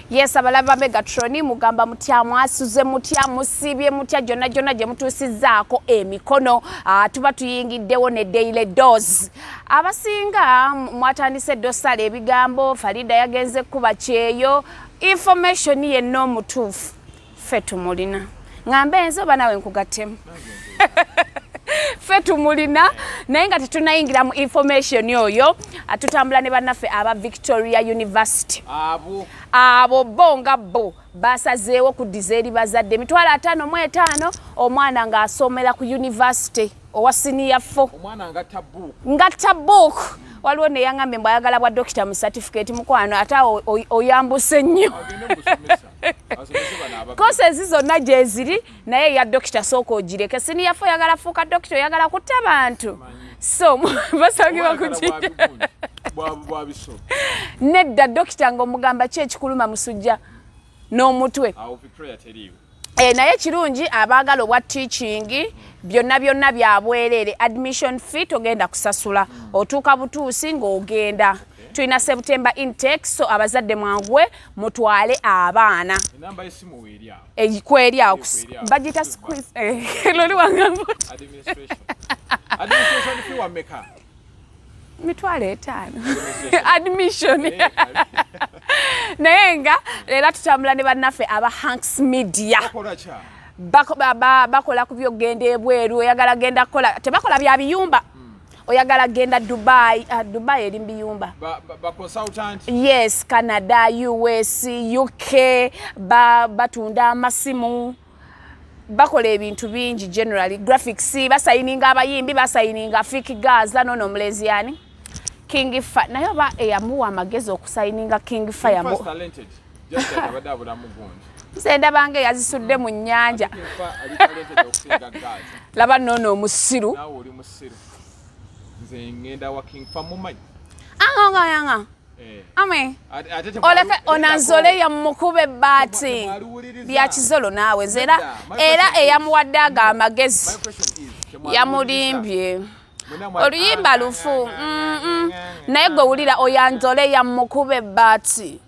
Yes abalaba Megatroni mugamba mutya mwasuze mutya musibye mutya jona jona je mutusizaako emikono ah, tuba tuyingiddewo ne daily dose abasinga mwatandise dosale ebigambo Farida yagenze kuba kyeyo information ye no mutufu ffe tumulina ŋambe nze oba nawe nkugattemu ffe tumulina naye nga tetunayingira mu information oyo tutambula ne bannaffe aba victoria university abo bo nga bo basazeewo kuddiza eri bazadde emitwalo ataano mu etaano omwana ng'asomera ku university owa siniya fo ngatta book waliwo neyaŋambye mbu ayagala bwa dokita mu certificate mukwano ate oyambuse nnyo kosa ezi zonna gyeziri naye eya dokita sooka ogireke siniyafe oyagala fuuka dokita oyagala kutta bantu so basangibwa kukiwabisoo nedda dokita ngaomugamba ki ekikuluma musujja n'omutwe eh, naye kirungi abaagala obwa teachingi byonna byonna byabwereere admission fee togenda kusasula otuuka butuusi ng'ogenda tulina september intake so abazadde mwangwe mutwale abaana ekweryawo eh, bagita loli eh, wangamba mitwalo etaano admission eh, naye nga leero tutambula ne bannaffe aba hanks media bakola ku byokugenda ebweru oyagala genda kukola tebakola bya biyumba oyagala genda dubai uh, dubai eri mbiyumba ba, ba, ba consultant yes canada us uk ba batunda amasimu bakola ebintu bingi generally graphics basayininga abayimbi basayininga fiki gaza nono omulenzi yani king fa naye oba eyamuwa amagezi okusayininga king fa yamu sendabange yazisudde mu nyanja laba nono omusiru aongaanga eh. ame oleke onanzole yamukuba ebbaati lyakizolo naawe nze era era eyamuwadde ago amagezi yamulimbye oluyimba lufu naye gwe wulira oyanzole yamukuba ebbaati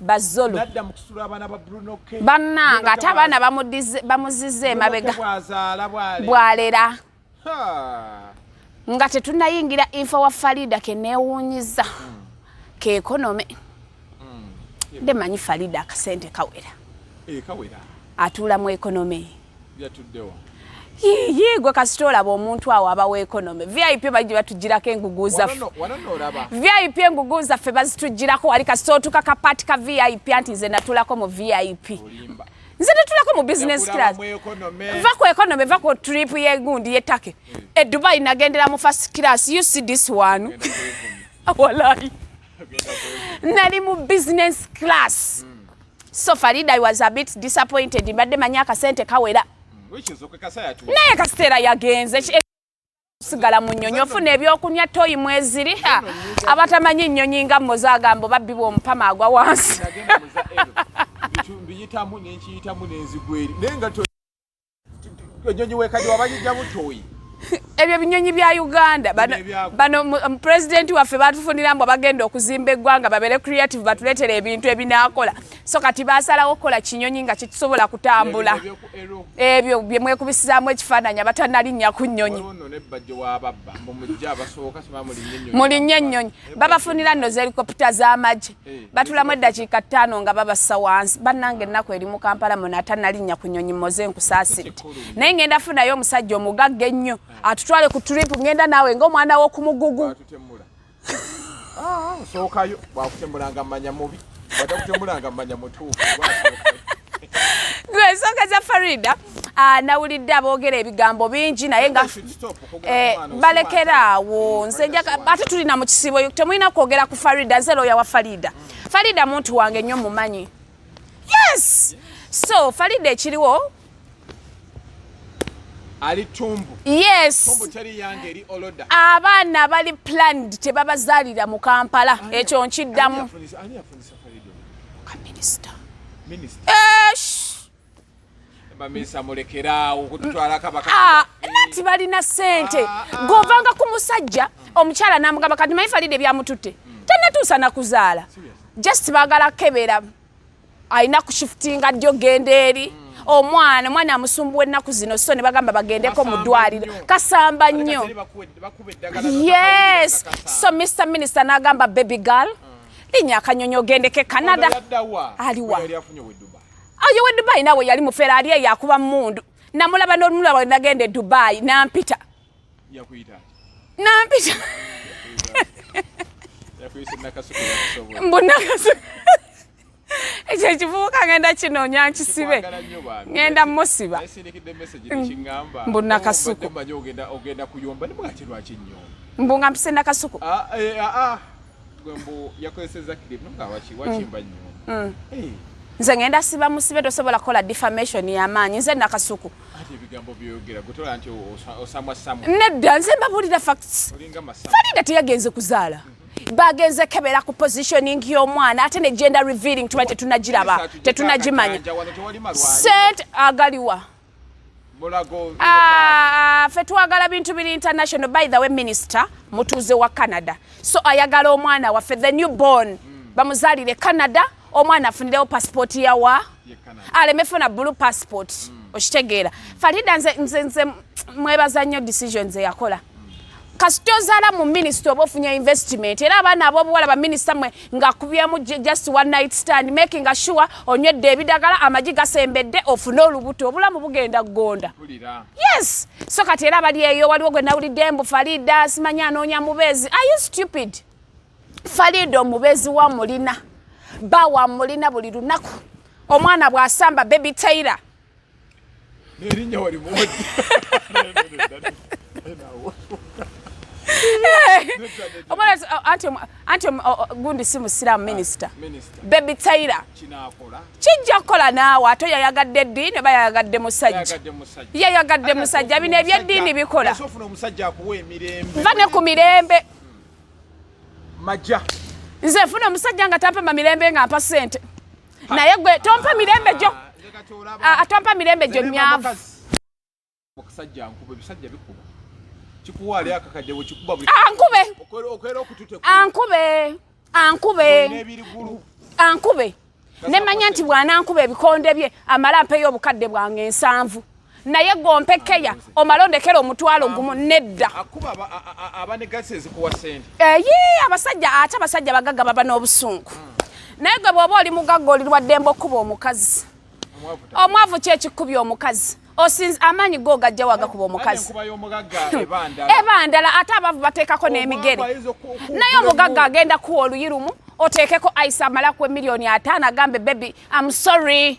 bazolo bannange ate abaana bamuzizza emabega bwalera nga tetunayingira infa wa farida kenewunyiza hmm. keekonome hmm. nde manyi farida akasente kawera eh, atuula mu ekonomi Yiyi gwe kasita olaba omuntu awo aba weekonome vip bajja batugirako engugu zaffe vip engugu zaffe bazitugirako wali kasita otuka kapaati ka vip anti nze natulako mu vip nze natulako mu business class va ku ekonome va ku trip yegundi yetake hmm. e dubai nagendera mu first class you see this one walayi nali mu business class mm. So Farida I was a bit disappointed mbadde manyi akasente kawera mm, naye kasitera yagenze eh, sigala mu nnyonyi ofuna ebyokunywa toyi mweziri abatamanyi nnyonyi nga mmozi agambo babbibwa omupama agwa wansi enyonyi wekadi wabajija butoyi ebyo binyonyi bya uganda bano um, pulezidenti waffe batufunira mbu bagenda okuzimba eggwanga babere creative batuletera ebintu ebinakola so kati basalawo okukola kinyonyi nga kyekisobola kutambula ebyo byemwekubisizamu ekifaananyi abatanalinnya ku nyonyi mulinnya enyonyi babafunira nno zelikopita z'amagye batulamu eddakiika ttaano nga babassa wansi bannanga ennaku eri mu kampala muno atanalinnya ku nyonyi moze nkusaasiridde naye ngenda funayo omusajja omugagga ennyo atutwale ku trip ngenda naawe ngaomwana w'okumugugu ah, sookayo bwakutembulanga manya mubi bwatakutemulanga manya mutuufu gwesooka za farida Ah, nawulidde aboogera ebigambo bingi naye nga eh, balekera awo nze ate tulina mu kisiibo temulina kwogera ku farida nze looya wa farida farida muntu wange nnyo mumanyi yes so farida ekiriwo abaana bali planned tebabazaalira mu kampala ekyo nkiddamu Minister. Minister. Eh, bamesa mulekeraawo kututwala kabaka ah, nati balina sente ah, ah. govanga ku musajja omukyala namugamba kati maye falide ebyamututte hmm. tanatuusa nakuzaala just bagala kebera alina kushifutinga dyo genda eri hmm. omwana omwana amusumbuwa ennaku zino so ne bagamba bagendeko mu ddwaliro kasamba nnyo yes so mr minister nagamba baby girl hmm. linya akanyonyi ogendeko e canada aliwa ayo we dubai nawe yali mufera ali eyo akuba mundu namulaba n'olumula lwa nagenda e dubai nampita nampita mbu nakasuku ekyo ekivubuka ngenda kinoonya nkisibe ngenda musiba mbu nakasuku mbu nga mpise nakasuku ah, eh, ah, ah. nze ngenda siba musibe tosobola kukola defamation yamaanyi nze nakasuku nedda nze mbabulira facts falida teyagenze kuzaala bagenze kebera ku positioning y'omwana ate ne gender revealing tuba tetunagiraba tetunagimanya sente agaliwa Ah, fe twagala bintu biri international by the way minister mutuuze wa canada so ayagala omwana waffe the new born mm. bamuzalire canada omwana afunirewo passport yawa aleme funa blue passport mm. okitegeera mm. farida nze, nze, nze mwebaza nnyo decisions eyakola mm. kasita ozaala mu minisita oba ofunya investment era abaana abobuwala baminisita mwe ngakubyemu just one night stand making assure onywedde ebidagala amagi gasembedde ofune olubuto obulamu bugenda kugonda yes so kati era abali eyo waliwo gwe nawulidde mbu farida simanyi anoonya mubeezi are you stupid farida omubeezi wa mulina ba wa mulina buli lunaku omwana bw'asamba baby taylor erinnya walimuwadde anti gundi si musiraamu minisita bebi taira kijja kukola naawe ate yayagadde eddiini oba yayagadde musajja yayagadde musajja bino ebyeddiini bikola va ne ku mirembe nze funa omusajja nga tampema mirembe nga mpa sente naye gwe tompa mirembe gyo ah, ah, tompa mirembe gyo myavu okusajja nkuba ebisajja bikuba kikuwa ali akakadde wekikuba ankube ah, ankube ankube ankube nemanya nti bwanankuba ebikonde bye amala mpeyo obukadde bwange ensanvu naye gompe keya omala ondekera omutwalo gumu nedda eyi eh, abasajja ate abasajja bagagga baba n'obusungu naye gwe bwoba oli mugagga olirwaddemba okuba omukazi omwavu kyekikubya omukazi osinza amaanyi go ogajja wagakuba omukazi ebandala ate abavu bateekako n'emigere naye omugagga agenda kuwa oluyi lumu oteekeko aisa amalaku emiliyoni ataano agambe bebi am sorry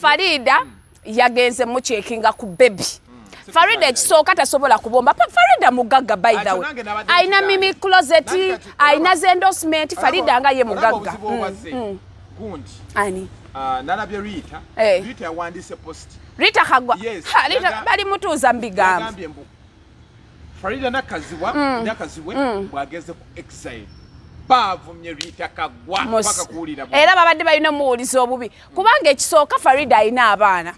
Farida yagenze mukyekinga ku bebi hmm. Farida ekisooka tasobola kubomba Farida mugagga by the way alina mimi closet alina ze endorsement Farida nga ye mugagga hmm, hmm. ani ah, nalabye Rita eh. Rita yawandise post Rita kagwa Rita bali mutuuza mbigambo Farida Nakazibwa mm. Nakazibwe mm. bwageze ku exile baavumye Rita Kagwa paka kuwulira era babadde balina omuwuliza obubi kubanga ekisooka Farida alina abaana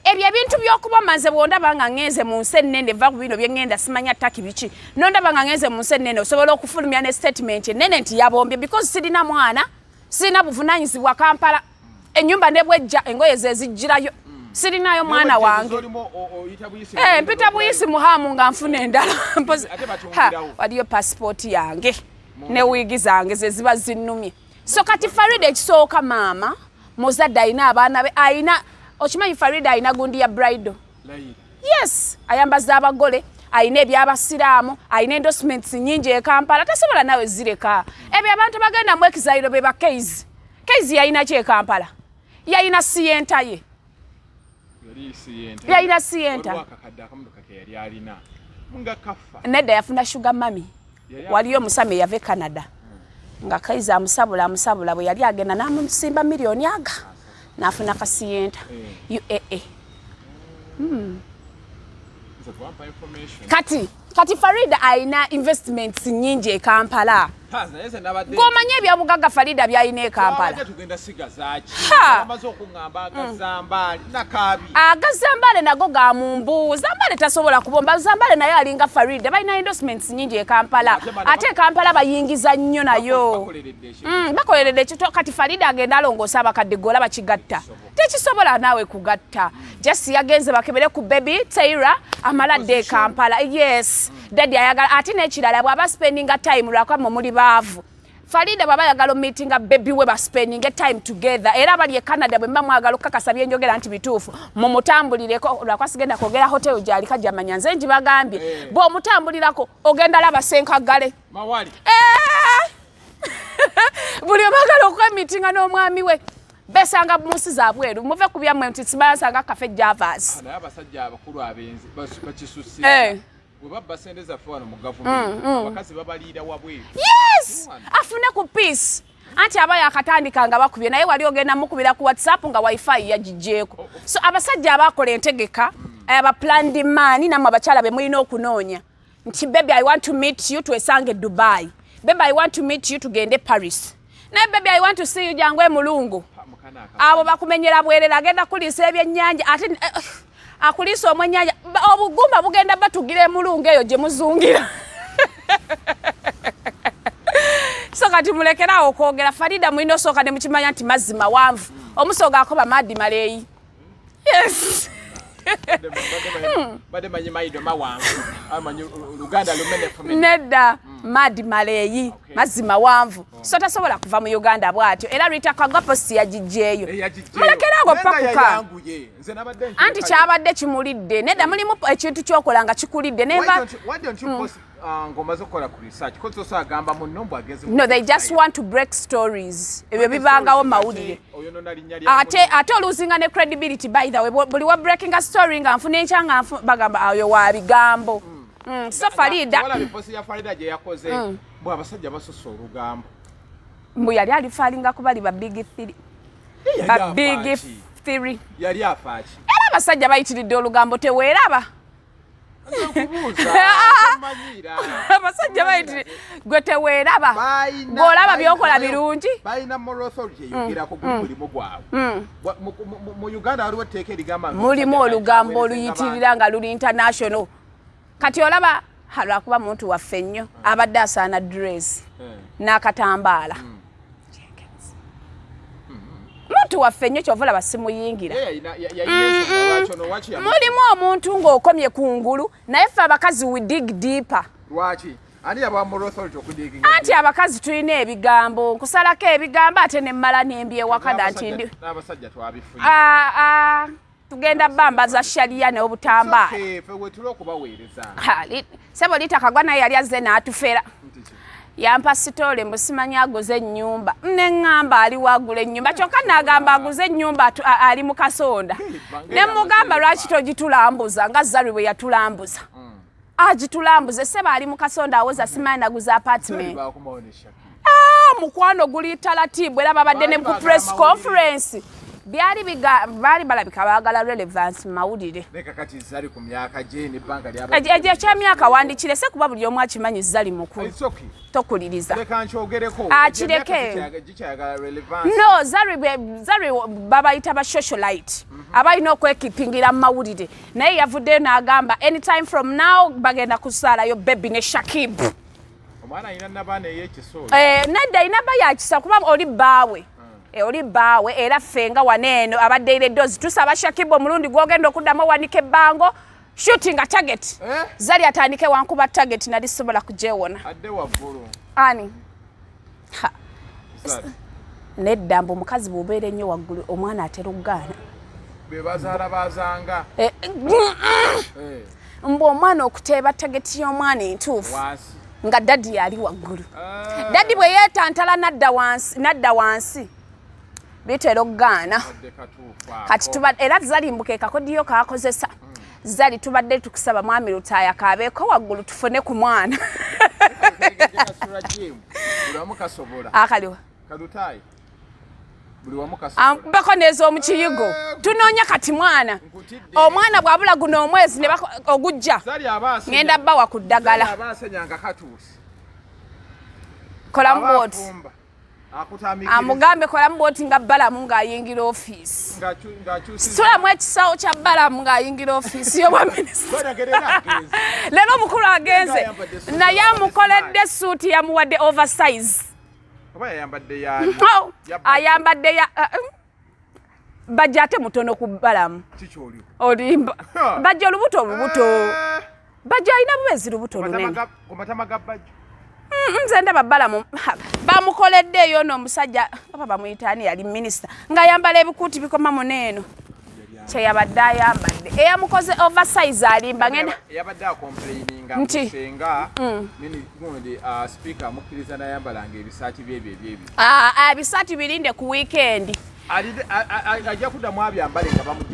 ebyo ebintu by'okuba maze bwondaba nga ngenze mu nsi ennene va ku bino bye ngenda simanya ttaki biki nondaba nga ngenze mu nsi ennene osobola okufulumya ne statement ennene nti yabombye because sirina mwana sirina buvunanyizibwa Kampala enyumba nebwejja engoye zezijjirayo mm. sirinayo mwana wange eh, mpita buyisi muhamu nga nfuna endala waliyo pasipooti yange ne wiigi zange zeziba zinnumye so kati farida ekisooka maama muzadde alina abaana be alina okimanyi farida alina gundi ya brido yes ayambaza abagole alina ebyabasiraamu alina endosments nyingi ekampala tasobola nawe zireka ebyo abantu bagenda mu ekizaliro bebakeizi Kezi yalina ki e Kampala? Yalina siyenta ye. Yalina siyenta. Nedda yafuna sugar mami. Waliyo omusami eyava e Canada. Hmm. Nga Kezi amusabula amusabula bwe yali agenda n'amusimba miliyoni aga n'afuna ka siyenta eh. UAA. Hmm. Kati kati farida alina investments nyingi e kampala gomanya ebyabugagga farida byalina e kampala agazambaale mm. nago ga mumbu zambaale tasobola kubomba zambaale naye alinga farida balina endorsements nyingi e kampala ate e kampala bayingiza nnyo nayo bakoleredde mm, kati farida agenda alongoosa abakadde gola bakigatta tekisobola naawe kugatta just yagenze bakebere ku baby taira amala dde kampala yes dadi ayagala ate nekirala bwaba spendinga time lwakwamma muli baavu farida bwaba ayagala omitinga bebi we baspendinge time together era abali e canada bwe mba mwagala okukakasa byenjogera nti bituufu mumutambulireko lwakwa sigenda kwogera hotel gyalika gyamanya nze ngibagambye eh. bwe omutambulirako ogenda laba senkagale eh! buli omwagala okwemitinga n'omwami we besanga mu nsi za bweru muve ku byammwe nti sibansanga kafe javas ah, naye abasajja abakulu abenzi bakisusi eh. bwe babba sente zaffe wano mu gavumenti mm, mm. abakazi babaliira wabweru yes afune ku peace anti aba yakatandika nga bakubye naye wali ogenda mukubira ku whatsapp nga wifi yagijeeko oh, oh. so abasajja abakola entegeka mm. aba planned man namwe abakyala be mulina okunoonya nti baby i want to meet you twesange dubai baby i want to meet you tugende paris naye baby i want to see you jangu emulungu abo bakumenyera bwerera agenda kuliisa ebyennyanja ate eh, eh, akuliisa omwennyanja obugumba bugenda batugira emulungu eyo gye muzungira so kati mulekeraawo okwogera farida mulina osooka ne mukimanya nti mazzi mawanvu omusooga akoba maadi maleeyi Yes. Bade manyi maido mawangu. Amanyi Uganda lumene fumene. Nedda mm. madi maleyi okay. mazi mawanvu. Oh. So tasobola kuva mu Uganda bwatyo. Era Rita Kagapo si yajijeyo. Eh, Mulekera ngo pakuka. Anti kyabadde kimulidde. Nedda eh. mulimu ekintu kyokola nga kikulidde. Neva. Why don't you, why don't you mm. post Ah, ngomaze okukola ku research ko soso agamba munno mbu ageze no they just want to break stories ebyo bibangawo mawulire ate ate oluzinga ne credibility by the way buli wa breaking a story nga nfuna enkya nga bagamba ayo ah, wa bigambo hmm. Hmm, so farida hmm. bwe abasajja basusa olugambo mbu yali alifalinga kuba li ba big three ba big three yali afaaki era abasajja bayitiridde olugambo teweeraba abasajja bayitire gwe teweeraba gweolaba byokola birungi mulimu olugambo oluyitirira nga luli international kati olaba lwakuba muntu waffe nnyo abadde asaana dress eh. n'akatambaala hmm. muntu waffe nnyo kyova olaba simuyingira mm-hmm. mulimu omuntu ng'okomye ku ngulu naye ffe abakazi we dig deeper anti abakazi tulina ebigambo nkusalako ebigambo ate nemmala nembyewakada nti ndi tugenda bamba za sharia ne obutamba sebo litakagwa naye yali azze n'atufera yampa sitole mbusimanyi aguze ennyumba neŋŋamba ali wagula ennyumba kyokka nagamba aguze ennyumba ali mu kasonda ne mugamba lwaki togitulambuza nga zalwe bwe yatulambuza mm. agitulambuze seba ali mukasonda awoza simanyi naguza apartment ah, mukwano guli talatibu era babadde ne ku press conference byali baali balabika baagala relevance mu mawulire ekyemyaka wandikirese kuba buli omu akimanyi zali mukulu tokuliriza akireke no zari babayita ba socialite mhm. abalina okwekipingira mu mawulire naye yavuddeyo n'agamba anytime from now bagenda kuzaalayo bebi ne shakib eh, nedda alina ba yakisa kuba oli bbaawe hmm. eh, oli bbaawe era ffe nga wano eno abadde ire dozi tusaba shakib omulundi gwogenda okuddamu owanika ebbango shooting a target eh? zali atandike wankuba target nali sobola kujewona ani nedda mbu omukazi bwobeera ennyo waggulu omwana atera okugaana eh, eh. mbu omwana okuteeba tageti y'omwana entuufu nga dadi yali waggulu ah. dadi bwe yeetantala nadda wansi bitera okugaana kati era zalimbuka ekakodiyo kakozesa zali tubadde tukusaba mwami lutaaya kaabeeko waggulu tufune ku mwana akaliwa bako nez'omu kiyigo eh, tunoonya kati mwana omwana bwabula guno omwezi ogujja ŋenda bawa ku ddagala kolamu bwoti amugambe kolamu bwoti nga balamu ng'ayingira ofiisi situlamu ekisawo kya balamu ng'ayingira ofiisi yobwa minisita leero omukulu agenze naye amukoledde suuti yamuwadde oversize ayambadde ya uh, um, bajja ate mutono ku balamu olimba bajja olubuto olubuto eh. bajja alina bubezi lubuto lunene nze ndaba balamu bamukoledde eyo no omusajja oba bamuyitaani yali minisita ng'ayambala ebikuuti bikoma muno eno kyeyabadde ayambadde eyamukoze oversize alimba ngenda yabadde akomplaininga nti senga mm. nini gundi uh, speaker amukkiriza nayambalanga ebisaati byebyo ebyebi Ah, ah, bisatu birinde ku wikendi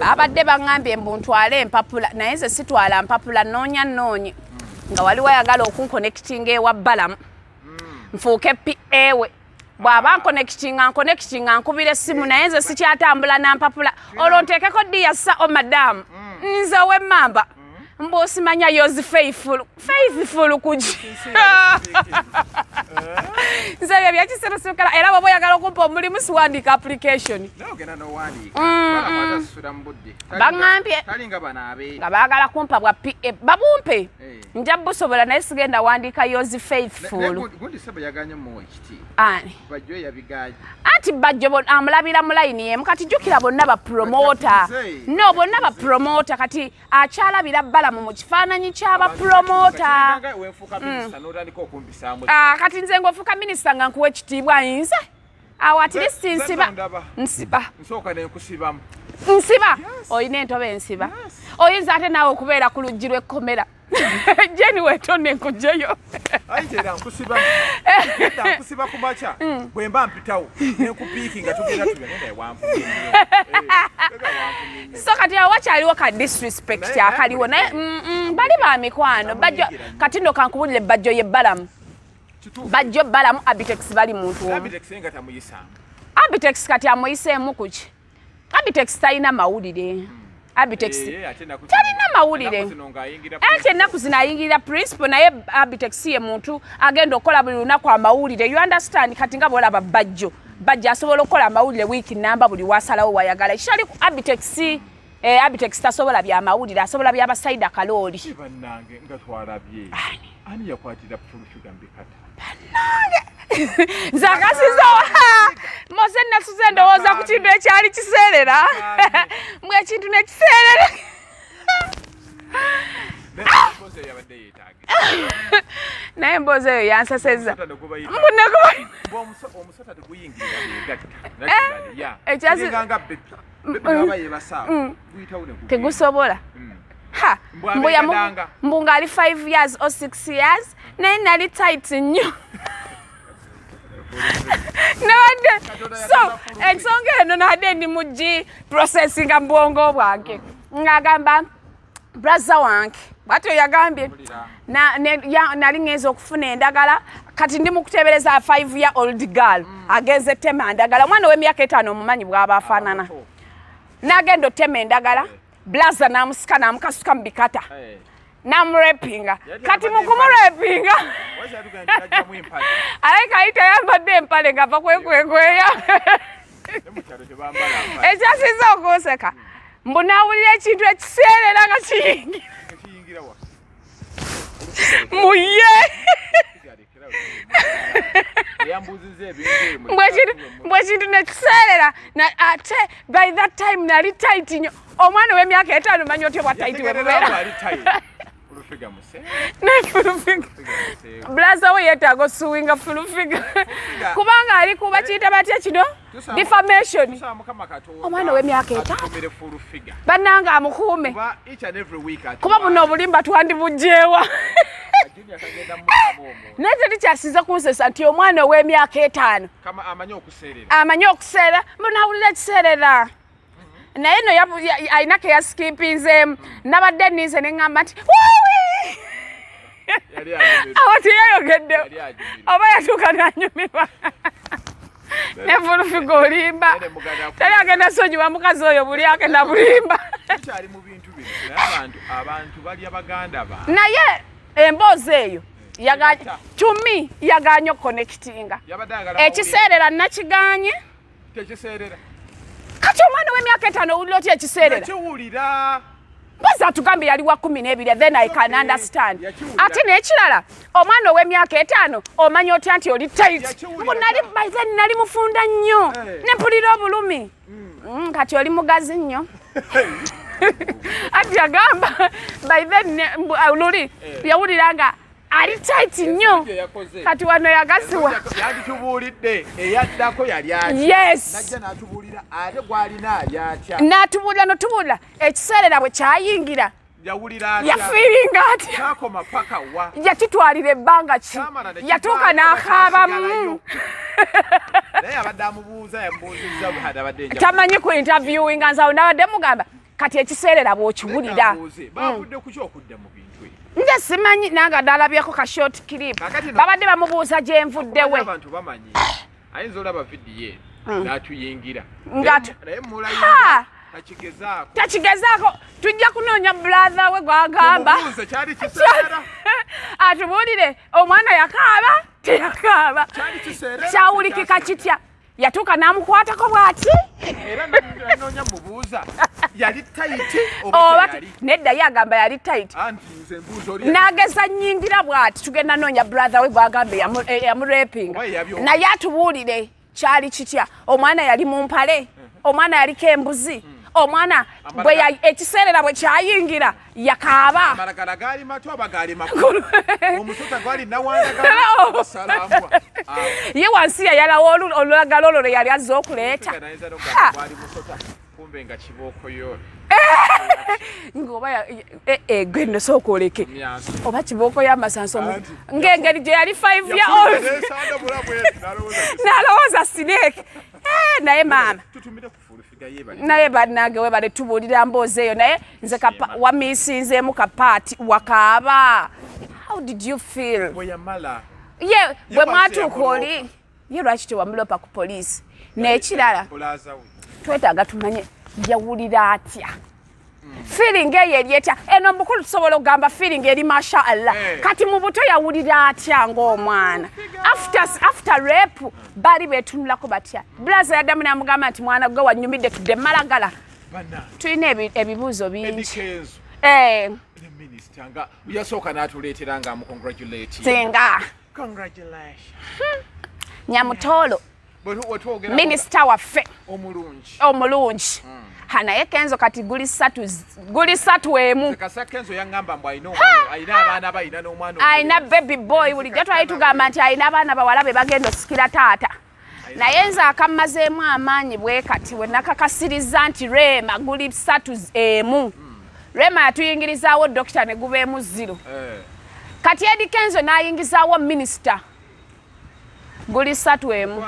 abadde baŋambye mbu ntwale empapula naye nze sitwala mpapula noonya noonyi nga wali wayagala okunkonekitinga ewa balamu hmm. nfuuke pa ewe bw'aba nkonekitinga nkonekitinga nkubira essimu naye nze sikyatambula na mpapula olwo nteekeko diyassa o oh, madamu hmm. nze ow'emmamba mbu osimanya yozi faithful faithful kuji nze ebyo byakisirusikala era bwoba oyagala okumpa omulimu siwandiika application baŋambye nga baagala kumpa bwa pa eh, babumpe eh. nja busobola naye sigenda wandiika yozi faithful ani bajjo yabigaye anti bajjo bon amulabira mu line yemu kati jukira bonna ba promoter no bonna ba promoter kati akyalabira bala mu kifananyi kya ba promoter mm. ah, kati nze ngofuka minister nga nkuwe kitiibwa yinze awo at least nsiba nsiba nsoka ne nkusibamu nsiba oyina entobe nsiba oyinza ate nawe okubeera ku lujji lwekkomera yes. jeni wetone nkujeyo ayitera nkusiba eda nkusiba ku makya mm. bwe mba mpitawo nenkupiiki nga tugenda so kati awo wakyaliwo ka disrespect akaliwo naye mm, mm, bali ba mikwano bajjo kati no kankubulire bajjo ye balamu bajjo balamu abitex bali muntu abitex kati amuyiseemu kuki abitex talina mawulire abitex eh, eh, talina mawulire anti ennaku zino ayingirira principal naye abitex ye muntu agenda okukola buli lunaku amawulire you understand kati nga bolaba bajjo bajjo asobola okukola amawulire wiiki namba buli wasalawo wayagala ekitali ku abitex eh, abitex tasobola byamawulire asobola byabasaida kalooli bannange nze akasizawa moze nasuze endowooza ku kintu ekyali kiseerera mbu ekintu nekiseerera naye emboozi eyo yansaseza mbunekoekyazi tegusobola mm. ha mbuya mbu ngaali 5 years o 6 years naye nali tight nnyo nabadde so ensonga eno nabadde ndi mu gi processinga mu bwongo bwange ng'agamba braza wange bwatyo yagambye nali ŋŋenza okufuna endagala kati ndi mukuteebereza five year old girl mm. agenze tema ndagala omwana ow'emyaka etaano omumanyi bw'aba afaanana nagenda otema endagala blaza namusika namukasuka mu bikata hey. namurepinga kati mukumurepinga alaika ayita yambadde empale ngava kwekwekweya ekyasiza okunseka mbu nawulira ekintu ekiseerera nga kiyingira muye mbwekintu nekiseerera ate by that time nali tight nyo omwana owemyaka etaano manyi otya bwa tight bulaza we yetaaga osuwinga fulufiga kubanga ali kuba kiyita batya kino defamation omwana ow'emyaka etaano bannange amukuume kuba buno obulimba twandibugyewa naye teri kyasiza kunsesa nti omwana ow'emyaka etaano amanyi okuseera munawulira ekiseerera naye no alina keyasikimpinzeemu nabadde ninze neŋamba nti awo tiyayogedde oba yatuuka nanyumirwa nevulufiga olimba tali agenda sonyiwa mukazi oyo buli agenda bulimba naye emboozi eyo tumi yaganye okukonekitinga ekiseera era nakiganye tekiseerera kati omwana w'emyaka etaano owulira otya ekiseerera ekiwulira mpozi atugambye yali wa kumi n'ebiri then i can understand ate n'ekirala omwana ow'emyaka etaano omanya otya nti oli tit nali by then nali mufunda nnyo eh. ne mpulira obulumi hmm. mm, kati oli mugazi nnyo ati agamba by then luli eh. yawulira nga ali tight nnyo kati wano yagasiwa yanditubuulidde eyaddako yali yes natubuulira ate gwalina alyakya natubuulira notubuulira ekiseerera bwe kyayingira yafiiringa atya yakitwalira ebbanga ki yatuuka n'akaabamu tamanyi ku interviewinga nsawo nabadde mugamba kati ekiseerera bwokiwulira mm. nze simanyi nange adalabyeko ka short clip babadde bamubuuza gyenvuddewe ayinza olaba vidiyo mm. natuyingira takigezaako tujja kunoonya bulatha we gwagamba atubuulire omwana yakaaba teyakaaba kyawulikika kitya yatuuka n'amukwatako bw'ati era nanoonya mubuuza yali tayiti oba nedda ye agamba yali tayiti n'ageza nyingira bw'ati tugenda noonya brother we bw'agamba eyamurepinga eh, naye atubuulire kyali kitya omwana yali mu mpale omwana yaliko embuzi hmm. omwana ekiseerera bwe kyayingira yakaaba amalagala gaali mato aba gaali makulu omusota gwali nawandagalaasalambwa ye wansi yayalawo olulagala olwo lwe yali azze okuleeta kumbe nga kibookoyo ngoba eh, eh, gwe nno sooka oleke oba kibooko y'amasanso ng'engeri gye yali five year old nalowooza sineeke eh, naye maama naye banange webale tubuulira mboozi eyo naye nze wamisinzeemu kapaati wakaaba how did you feel ye bwe mwatuuka oli ye lwaki tewamulopa ku poliisi nekirala twetaaga tumanye yawulira atya feeling eyo eri etya eno mukulu tusobola okugamba feeling eri masha allah eh. kati mu buto yawulira atya ng'omwana after rape baali betunulako batya bulaza yaddamu namugamba nti mwana gwe wanyumidde tudde malagala tulina ebibuuzo bingi eh. yasooka n'atuleetera nga mukongratulatinga hmm. nyamutoolo minisita waffe omulungi omulungi mm. ha naye kenzo kati guli satu guli satu emu alina baby boy bulijjo twali tugamba nti alina abaana bawala be bagenda osikira taata naye nze akammazeemu amaanyi bwe kati we nakakasirizza nti reema guli satu emu hmm. reema yatuyingirizaawo dokita ne gubeemu ziro eh. kati edi kenzo n'ayingizaawo minisita guli satu emu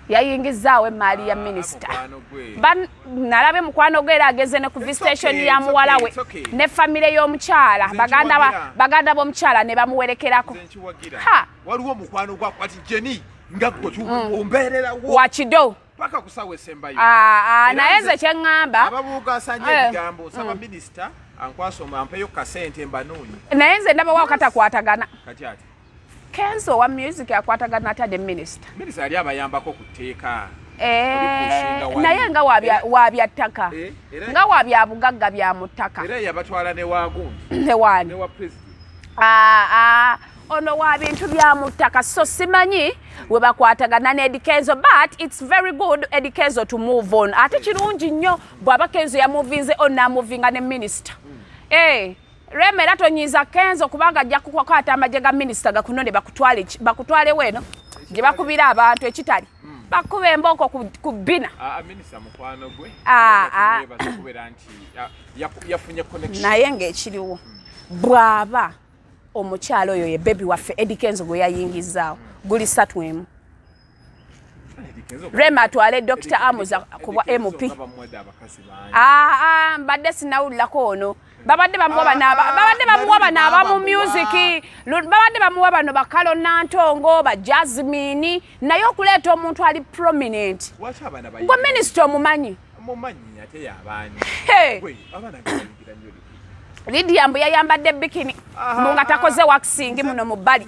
yayingizzaawo emmaali ya ah, minisita nalabe mukwano gwe era ageze ne ku visitation ya muwala we ne famire y'omukyala baganda b'omukyala ne bamuwerekerako waliwo omukwano gwakwati jeni nga gwe mm. ombeererawo wakido paka kusawa esembayo ah, ah, naye nze kyeŋŋamba ababuugasanya eh. ebigambo nsaba mm. minisita ankwasa omampeyo kasente mbanunyi naye nze ndabawo katakwatagana kati ati Kenzo wa music akwatagana atya ne minister? Minister yali abayambako ku tteeka. Eh, naye nga wabya ttaka eh, nga wabya bugagga bya mu ttaka ah, ah, ono wa bintu bya mu ttaka so simanyi we bakwatagana ne edikezo but its very good edikezo to move on ate kirungi nnyo bw'aba kenzo yamuvinze on namuvinga ne minisita hmm. eh, Rema era tonyiiza Kenzo kubanga ajja kukwata amagye ga minisita gakunone bakutwale bakutwale weno gye bakubira abantu ekitali hmm. bakuba embooko ku bina ah, ah, ah, naye ngaekiriwo hmm. bwaba omukyalo oyo ye bebi waffe edikenzo gwe yayingizaawo hmm. guli satu emu rema atwale dokita amuza kubwa mp aa ah, ah, mbadde sinawulirako ono babadde bamuwa bano ah, babadde bamuwa bano abamu musiki babadde bamuwa bano bakalo nantongo ba jasmini naye okuleeta omuntu ali prominent gwe minisita omumanyi Lydia mbu yayambadde bikini mbu nga takoze waxing muno mu bbali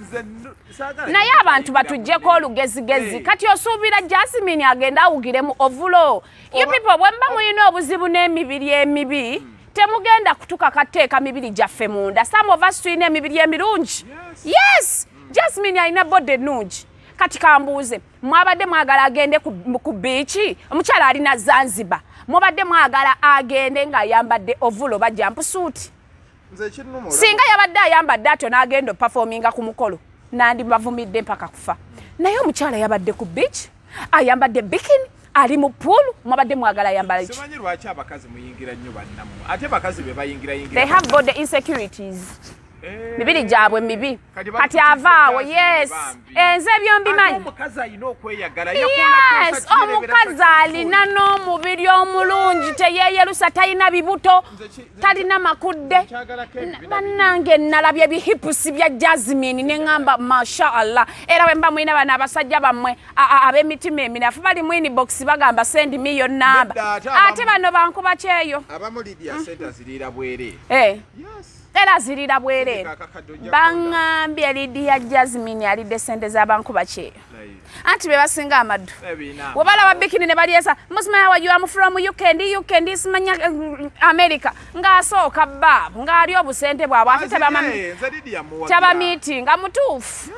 naye abantu batujjeko olugezigezi kati osuubira jasmin agenda awugire mu ovulo you people bwemba mulina obuzibu n'emibiri emibi temugenda kutuka kateeka mibiri gyaffe munda some of us tulina emibiri emirungi yes jasmin alina bode ennungi kati kambuuze mwabadde mwagala agende ku biiki omukyala ali na zanzibar mwabadde mwagala agende ng'ayambadde ovulo bajja mpusuuti singa yabadde ayambadde atyo n'agenda opafominga ku mukolo nandibavumidde mpaka kufa naye omukyala yabadde ku biiki ayambadde bikini ali mu pool mwabadde mwagala ayambala ki they have body insecurities Eh. mibiri gyabwe mibi kati avaawo yes enze eh, byombimanyi omukazi alina n'omubiri omulungi teyeyerusa talina bibuto talina makudde bannange nalabye bihipusi bya jasmine neŋamba masha allah era bwemba mulina bana abasajja bammwe ab'emitima eminafu bali mu inbox bagamba sendi mi yo namba ate bano bankuba kyeyo abamu lidia sente aziriira bwere eh. era zirira bwereere baŋambye lidiya jasmine alidde sente zabankuba kyeyo anti bebasinga amaddu webalaba bikini ne balyesa musimanya wajuamu from uk ndi uk ndi simanya eh, america ng'asooka baabu ng'ali obusente bwabwe ate tabamiitinga mutuufu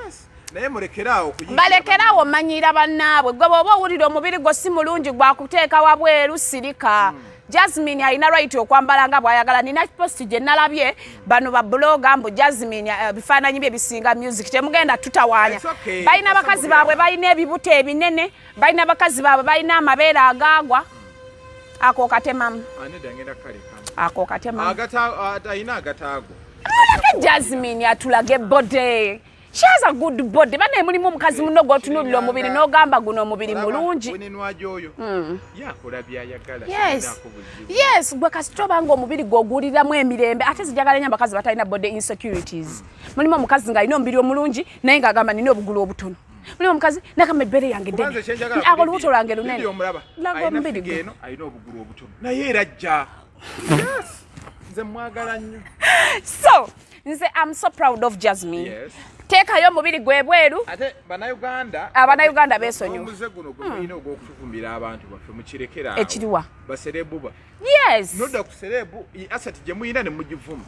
balekerawo manyira bannaabwe gwe bwoba owulira omubiri gwo si mulungi gwakuteeka wabweru sirika hmm. jasmine alina right okwambala nga bwayagala nina post gye nalabye bano babuloga mbu jasmine eh, bifaananyi bye bisinga music temugenda tutawaanya balina bakazi baabwe balina ebibuto ebinene balina bakazi baabwe balina amabeere agaagwa ako katemamu ako katemamu jasmine atulage bode She has a good body. Bana mulimu omukazi muno gwotunulira omubiri n'ogamba guno omubiri mulungi. Hmm. Yes. Yes, gwe kasita oba nga omubiri gw'oguwuliramu emirembe ate zijagala nnyo abakazi batalina body insecurities. Mulimu omukazi ng'alina omubiri omulungi naye ng'agamba nina obugulu obutono. Mulimu omukazi nagamba ebbere yange ddene. Ako olubuto lwange lunene. Laga omubiri gwe. Naye era ajja. Yes. Nze mwagala nnyo. So, nze am so proud of jasmine yes. teekayo omubiri gwe bweru ate banauganda abanauganda besonyiwamuze guno gwemulina hmm. ogwokutuvumbira abantu baffe mukirekeraawo ekiriwa baserebu ba yes noda ku serebu asati gye muyina ne mugivuma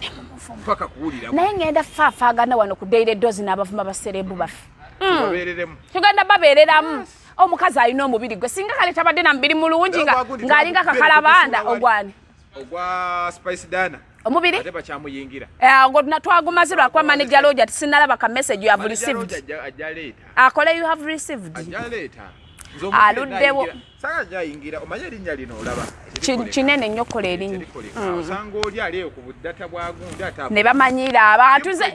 paka kuwulira naye ngenda faafaagana wano ku daily dozi n'abavuma baserebu baffe hmm. tugenda babeereramu omukazi alina omubiri gwe singa kale tabadde na mubiri mulungi ng'alinga kakalabanda ogwani ogwa spice dana omubiri ate bakyamuyingira eh, ogwo twagumaze lwakuba manager loja tisinalaba ka message you have received akole ah, you have received aluddewo kinene nnyo kola erinnya ne bamanyiira abantu nze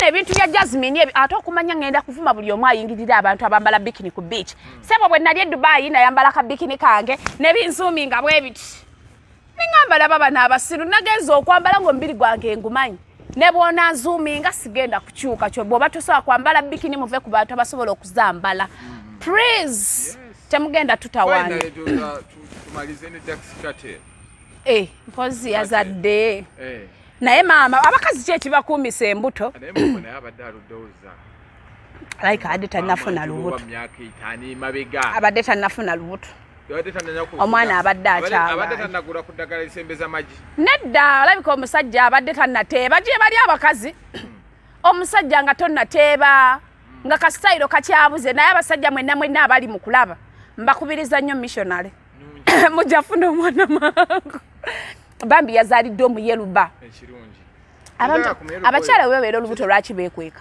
nebintu bya jasmine ebyo ate okumanya ngenda kuvuma buli omu ayingirira abantu abambala bikini ku beach hmm. sebo bwe nali edubaayi nayambala ka bikini kange nebinzuumi nga bwebiti nengamba laba bano abasiru nagenza okwambala nga omubiri gwange engumanyi ne bwona nzuuminga sigenda kukyuka kyo bwoba tosobola kwambala bikini muve ku bantu abasobola okuzambala mm-hmm. please temugenda tutawana eh, mpozi yazadde eh. naye maama abakazi kyekibakuumisa embuto like ade tanafuna lubuto abadde tanafuna lubuto omwana abadde akyabnedda olabika omusajja abadde tanateeba gyebali abakazi hmm. omusajja nga tonateeba hmm. nga kasitayiro kakyabuze naye abasajja mwena mwena abali mu kulaba mbakubiriza nnyo missionary mujafuna omwana mangu bambi yazalidde omuyeluba abakyala webabeera olubuto lwaki bekweka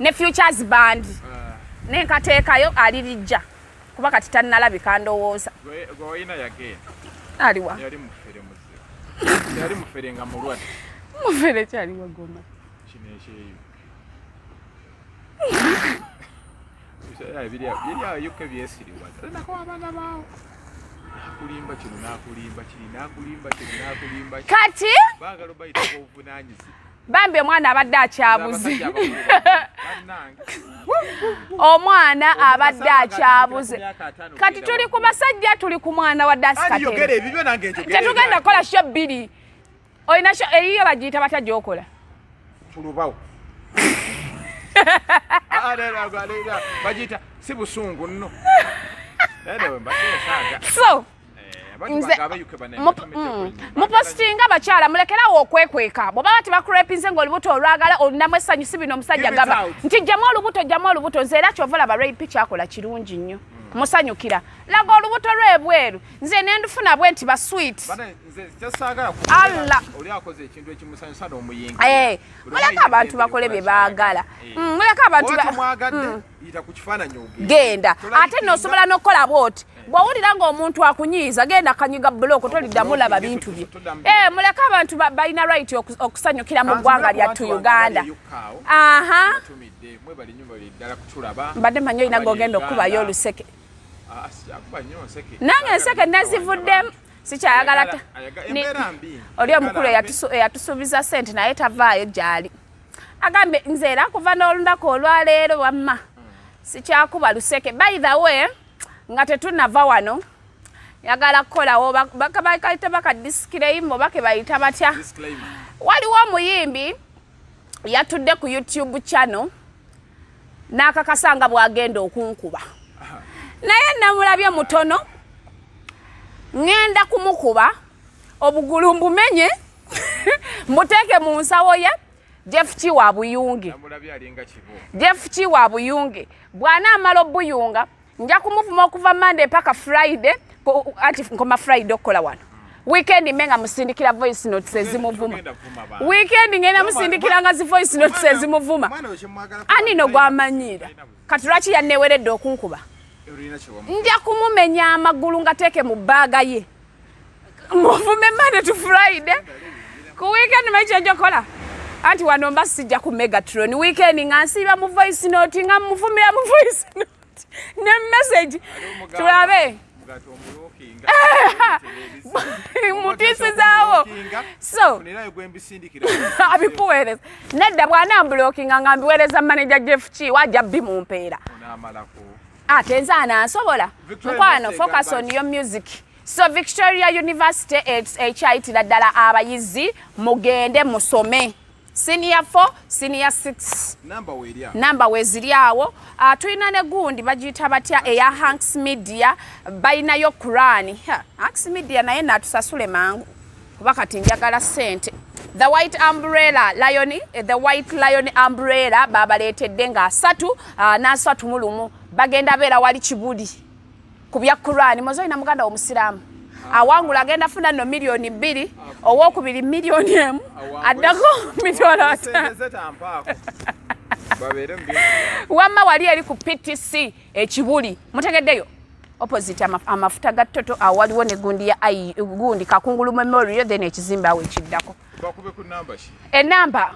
ne futures band ah. nenkateekayo alirijja kuba kati tannalabika ndowooza aliwa mufere kyaliwa goma kati bambi omwana abadde akyabuze omwana abadde akyabuze kati tuli ku basajja tuli ku mwana wa dasikatetugenda kukola sho bbiri olina eyiyo bagiyita batya gyokola ah, ah, bagiyita si busungu nno so mupositinga mm. abakyala mulekerawo okwekweka bwoba bati bakurepinze nga olubuto olwagala olunamu essanyu si bino omusajja gamba nti jjamu olubuto jjamu olubuto nze era kyova laba rapi kyakola kirungi nnyo mm. musanyukira laga olubuto lwebweru nze nendufuna bwe nti baswit muleka abantu bakole bye baagala eh. mm, muleka abantu genda ate nosobola nokukola bwoti eh. bwowulira nga omuntu akunyiiza genda kanyiga buloko toliddamu laba bintu bye eh, muleke abantu balina right okusanyukira mu ggwanga lyattu uganda aha mbadde manyi olina gogenda okukubayo oluseke ah, nange enseke nazivuddemu sikyayagala oli omukulu eyatusuubiza sente naye tavaayo gyali agambye nze era kuva n'olunaku olwaleero wamma sikyakuba luseke by the way nga tetunava wano yagala kukolawo bakaita bakadisikireyimo bake bayita batya waliwo omuyimbi yatudde ku youtube channel n'akakasa nga bwagenda okunkuba naye namulabye mutono ŋŋenda kumukuba obugulu mbumenye muteeke mu nsawo ye jeff ki wa buyunge jeff ki wa buyunge bwana amala obuyunga nja kumuvuma okuva mande mpaka friday ati nkoma friday okukola wano weekend me nga musindikira voice notes ezimuvuma weekend ngenda musindikira nga zi voice notes ezimuvuma ani no gwamanyira kati lwaki yanneweredde okunkuba nja kumumenya amagulu ngateeke mu bbaaga ye muvume mane to friday ku weekend mekyenjokola anti wano mba sijja ku megatron weekend nga nsiiba mu voice note nga muvumira mu voice note ne message tulabe mutisizawo so abikuweereza nedda bwanambulokinga nga mbiweereza maneja jeff ki waja bimumpeera ate ah, nze anansobola mukwano focus on your music so victoria university ekyayitira ddala abayizi mugende musome senior 4 senior 6 namba weziri awo ah, tulina ne gundi bagiyita batya eya hanks media balinayo kurani hanks media naye natusasule mangu kuba kati njagala sente the white umbrella lion eh, the white lion umbrella babaleetedde nga asatu ah, n'asatu mu lumu bagenda beera wali kibuli ku bya kurani mozolina muganda womusiraamu awangula agenda funa no miliyoni bbiri owokubiri miliyoni emu addako miliyoni wamma wali eri ku ptc ekibuli mutegeddeyo opposite amafuta ga toto awaliwo ne gundi ya ai gundi kakungulu memorial then ekizimba awo ekiddako enamba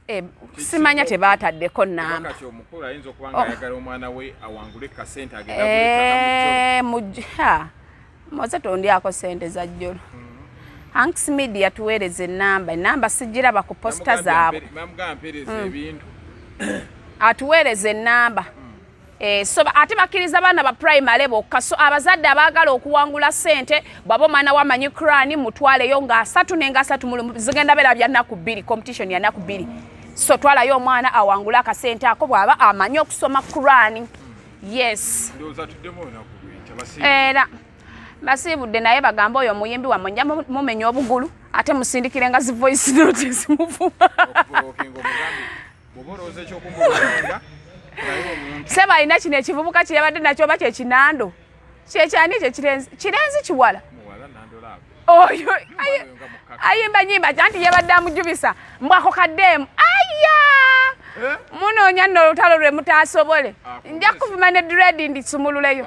eh, simanya tebaataddeko namba moze tondyako sente za jjolo hmm. hanks media tuweereza enamba enamba sigiraba ku posita zaabwe hmm. atuweereza enamba Eh, so ate bakkiriza baana ba primary bokka so abazadde abaagala okuwangula sente bwaba omwana wa manyi crani mutwaleyo nga asatu nenga asatu mulumu zigenda beera bya nnaku bbiri competition ya nnaku bbiri so twalayo omwana awangule akasente ako bw'aba amanyi okusoma crani yes era basiibudde naye bagamba oyo omuyimbi wamwe nja mumenya obugulu ate musindikire nga zi voice note zimuvuma sebo alina kino ekivubuka kyeyabadde nakyo oba kyekinando kyekyani ekyo kirenzi kirenzi kiwala oyo ayimba nyimba anti yabadde amujubisa mbwako kadeemu aya eh? munoonya nno olutalo lwe mutaasobole ah, nja kuvuma ne dredi ndisumululeyo